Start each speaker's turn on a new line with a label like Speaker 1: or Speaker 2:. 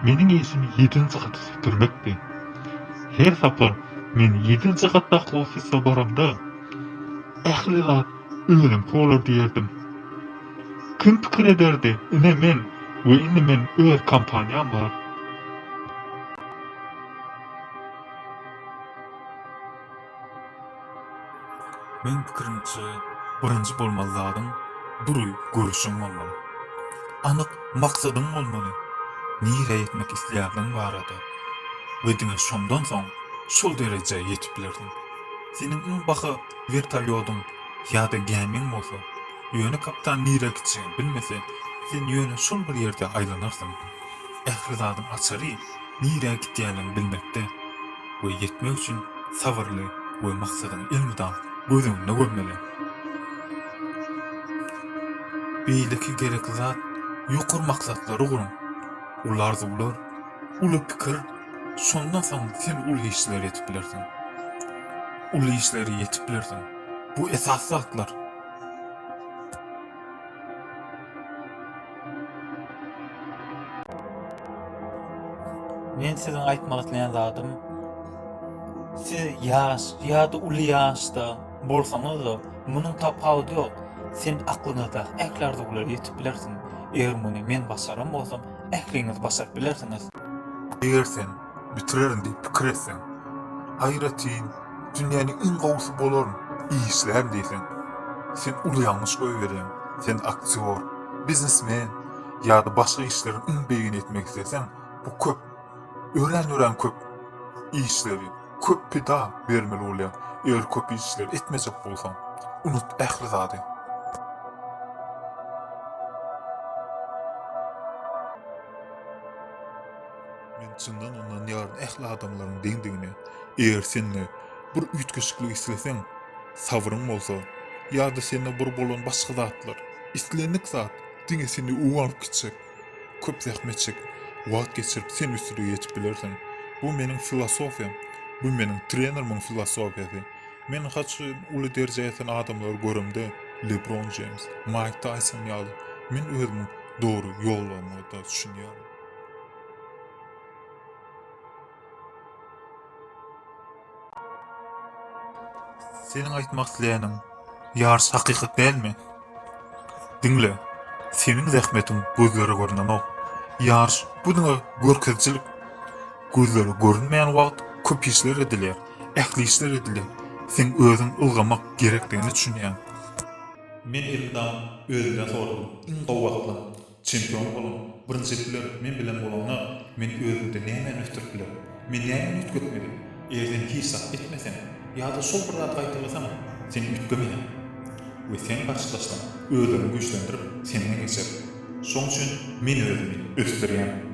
Speaker 1: Meniň işim ýedinji gaty süpürmekdi. Her sapar men ýedinji gatdaky ofise baramda, ähli zat özümki bolar diýerdim. Kim pikir ederdi, ine men we indi men öz kompaniýam bar.
Speaker 2: Meň pikirimçe birinji bolmaly zadyň dury görüşiň bolmaly. Anyk maksadyň bolmaly, nirä ýetmek isleýändigiň barada we diňe şondan soň şol derejä ýetip bilersiň. Seniň iň baha wertolýodyň Ýa-da gämiň bolsa? Ýöne kapitan nirä gitjegini bilmese, sen ýöne şol bir ýerde aýlanarsyň. Ähli zadyň açary nirä gitýänini bilmekde we ýetmek üçin sabyrly we maksadyňy elmydam göz öňünde görmeli. Beýleki gerekli zat, ýokary maksatlary guruň. Uly arzuwlar, uly pikir, şondan soň sen uly işleri edip bilersiň. Uly işlere ýetip bilersiň. Bu esasy zatlar.
Speaker 3: Men siziň aýtmak isleýän zadym, siz ýaş ýa-da uly ýaşda bolsaňyz-da, munuň tapawudy ýok. Sen aklyňyzdaky ähli arzuwlara ýetip bilersiň. Eger muny men başaran bolsam, ähliňiz başaryp bilersiňiz. Eger sen
Speaker 2: bitirerin diýip pikir etseň, aýratyn dünýäniň iň gowusy bolaryn, işlän diýseň, sen uly ýalňyş goýberýäň. Sen aktýor, biznesmen ýa-da başga işleriň iň beýigini etmek isleseň, bu köp, örän-örän köp işleri, köp pida bermeli bolýar. Eger köp işleri etmejek bolsaň, unut ähli zady. Men çyndan ynanýaryn ähli adamlaryň deňdigine. Eger sende bir üýtgeşiklik isleseň, sabryň bolsa, ýa-da sende bir bolan başga zatlar, islendik zat diňe seni öň alyp gitjek. Köp zähmet çekip, wagt geçirip sen üstülige ýetip bilersiň. Bu meniň filosofiýam. Bu meniň trenerimiň filosofiýasy. Men haç uly derejä ýeten adamlary göremde, Lebron Jeýms, Maýk Taýson ýaly, men özümiň dogry ýoldaşymda düşünýärin. Seniň aýtmak isleýäniň ýarys hakykat dälmi? Diňle, seniň zähmetiň gözlere görnenok. Ýarys bu diňe görkezijilik. Gözlere görünmeýän wagt köp işler edilýär, ähli işler edilýär. Sen özüň ylgamak gerekdigini düşünýäň. Men elimdäki özümden soradym. Iň gowy wagtlar. Çempion boluň, birinji biler, men bilen bolanda, men özümde nämäni ösdürip bilerin? Men nämäni üýtgetmeli? Eger sen hiç zat etmeseň, ýa-da şol bir zady gaýtalasaň, sen üýtgemeýäň we seň garşydaşlaň özlerini güýçlendirip, senden geçer. Şoň üçin men özümi ösdürýän.